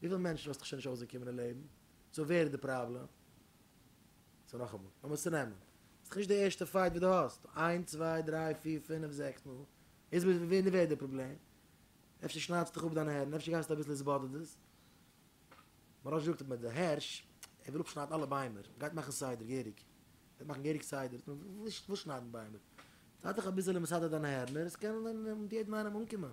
וויפיל מענטשן האסטו שוין נישט אויסגעקומען אין לעבן? סאו ווער איז די פראבלעם? סאו נאכאמאל, לאמיר צונעמען, ס'איז דאך נישט די ערשטע פייט וואס דו האסט, איין צוויי דריי פיר פינף זעקס מאל, איז מיט ווער איז די פראבלעם? אפשר שניידסטו דיך אפ דיינע הערן, אפשר גייסטו אביסל עס באדערט עס? מרן זאגט אז מיט די הערש, ער וויל אפשניידן אלע ביימער, מ'גייט מאכן סדר, געהעריג, מ'גייט מאכן געהעריג סדר, וואס שניידן ביימער? זיי דיך אביסעלע מסדר דיינע הערנער, עס קען יעדן איינעם אנקומען.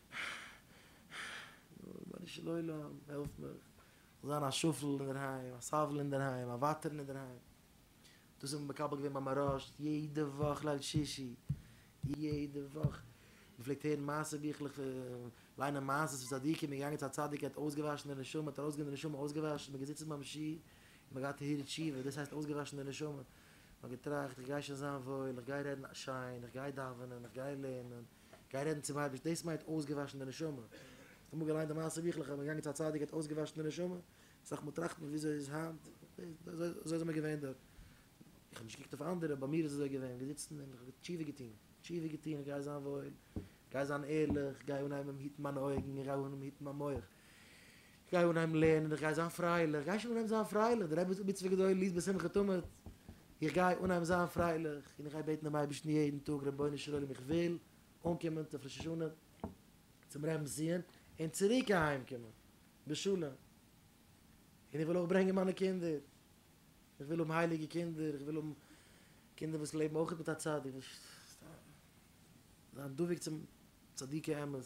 רבונו של עולם, העלף מיך, כ'זאל זיין א שפל אינדערהיים, א סבל אינדערהיים, א ווייטערן אינדערהיים. דאס האב איך מקבל געווען ביי מהראש, יעדע וואך ליל שישי, יעדע וואך. מ'פלעגט הערן מעשה ביכלעך פון, ליינען מעשה'ס פון צדיקים, מ'איז געגאנגען צו א צדיק ער האט אויסגעוואשן די נשמה, האט ארויסגענומען די נשמה אויסגעוואשן, מ'איז געזיצן ביים שי ת, מ'האט געהאט טהרת תשובה, דאס הייסט אויסגעוואשן די נשמה. מ'האט געטראכט, איך גיי שוין זיין וואויל, איך גיי רעדן שיין, איך גיי דאווענען, איך גיי לערנען. גיי רעדן צום אייבערשטן, דאס מיינט אויסגעוואשן די נשמה, האסט אמאל געליינט די מעשה ביכלעך אז מען איז געגאנגען צו א צדיק ער האט אויסגעוואשן די נשמה, יצטרך מען טראכטן וויאזוי איז היינט, אזוי זענען מיר געווען דארט, איך האב נישט געקוקט אויף אנדערע ביי מיר איז אזוי געווען, געזיצן און איך האב תשובה געטון, תשובה געטון איך גיי זיין וואויל, גיי זיין ערליך, גיי אנהייבן היטן מיינע אויגן, איך גיי אנהייבן היטן מיין מח, גיי אנהייבן לערנען איך גיי זיין פרייליך, גיי שוין אנהייבן זיין פרייליך, די רעבעס מצוה גדול איז בשמחה תמיד, איך גיי אנהייבן זיין פרייליך און איך גיי בעטן דעם אייבערשטן יעדן טאג רבונו של עולם איך וויל אנקומען צו ראש השנה צום רעמבסיען און צוריק אהיימקומען בשלום און איך וויל אויך ברענגען מיינע קינדער, איך וויל האבן הייליגע קינדער, איך וויל האבן קינדער וואס לעבן אויך מיט א צדיק, וואס זיין דבוק צום צדיקי אמת.